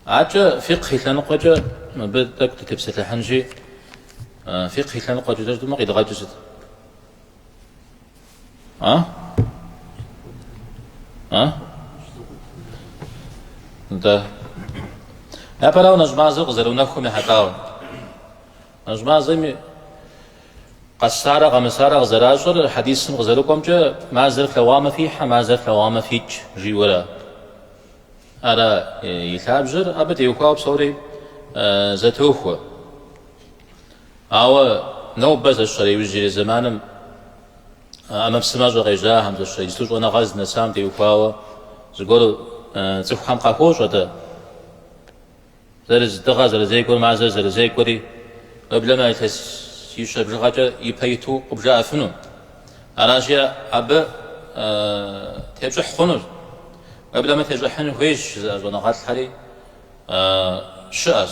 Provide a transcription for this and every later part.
Аркӏэ фикъхь и лъэныкъуэкӏэ мыбы тӏэкӏу дытепсэлъыхьынщи, фикъхь и лъэныкъуэкӏэ жытӏэмэ къидгъэкӏыр сыт? Атӏэ, япэрауэ нэщӏ мазэу къызэрыунэхум ехьэлӏауэ. Нэщӏ мазэми къэсарэ къэмысарэ къызэращӏэр хьэдисым къызэрыкӏуэмкӏэ мазэр флъэгъуамэ фихьэ, мазэр флъэгъуамэ фикӏ жиӏэурэ. Ара и лъабжьэр? Абы теухуауэ псори зэтохуэ. Ауэ нобэ зэщэрэ иужьрей зэманым ӏэмэпсымэщӏэ къежьахэм, зэщэрэ иджыту щӏэныгъэ здынэсам теухуауэ зыгуэр цӏыхухэм къахуощӏэ-тӏэ? Зырыз дыгъэ зэрызекӏуэр мазэр зэрызекӏуэри, уеблэмэ илъэсищэ бжыгъэкӏэ ипэ иту къыбжаӏэфыну. Аращи, абы тепщӏыхь хъуну, уеблэмэ тещӏыхьын хуейщ жызыӏэ щӏэныгъэлӏхэри щыӏэщ.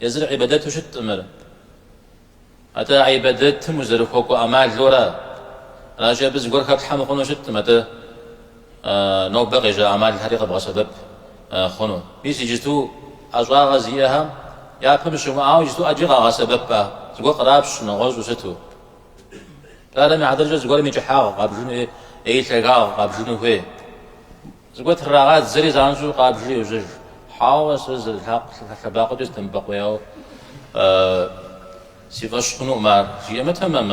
Езыр гӏибадэту щыткъым ар. Атӏэ гӏибадэтым узэрыхуэкӏуэ ӏэмалу ара? Аращи, абы зыгуэр хэплъхьэ мыхъуну щыткъым, атӏэ нобэ къежьа ӏэмалхэри къэбгъэсэбэп хъуну. Мис иджысту ӏэщӏагъэ зиӏэхэм япэм щымыӏауэ иджысту ӏэджи къагъэсэбэп, зыгуэр кърапщ нэгъуэщӏу сыту. Псалъэм и хьэтыркӏэ зыгуэрым и кӏыхьагъ къабжыну е и лъагагъ къабжыну хуей. Зыгуэр трырагъадзэри занщӏэу къабжри йожьэж. Хьэуэ, сэ зы лъэбакъуэкӏэ сыдэмыбэкъуеяуэ си фӏэщ хъунукъым ар, жиӏэмэ тэмэм?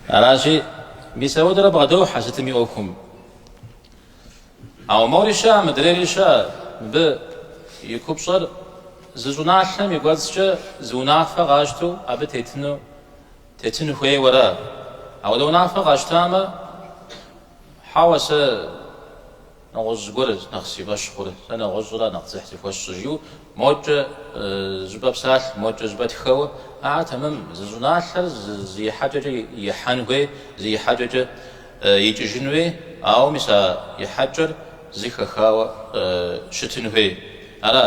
Аращи, мис апхуэдэурэ бгъэдохьэ сытым и ӏуэхум. Ауэ мори щыӏэ, мыдрейри щыӏэ, мыбы и купщӏэр зы щӏыналъэм и кӏуэцӏкӏэ зы унафэ къащтэу абы тетыну Тетын хуейуэ ара? Апхуэдэ унафэ къащтамэ, хьэуэ, сэ нэгъуэщӏ зыгуэр нэхъ си фӏэщ хъур, сэ нэгъуэщӏра нэхъ дзыхь зыхуэсщӏ жиӏэу мокӏэ щӏыпӏэ псалъэ, мокӏэ щӏыпӏэ тхэуэ. Ааэ, тэмэм, зы щӏыналъэр зы ихьэкӏэкӏэ ихьэн хуей, зы ихьэкӏэкӏэ икӏыжын хуей, ауэ мис а ихьэкӏэр зы хэхауэ щытын хуей ара?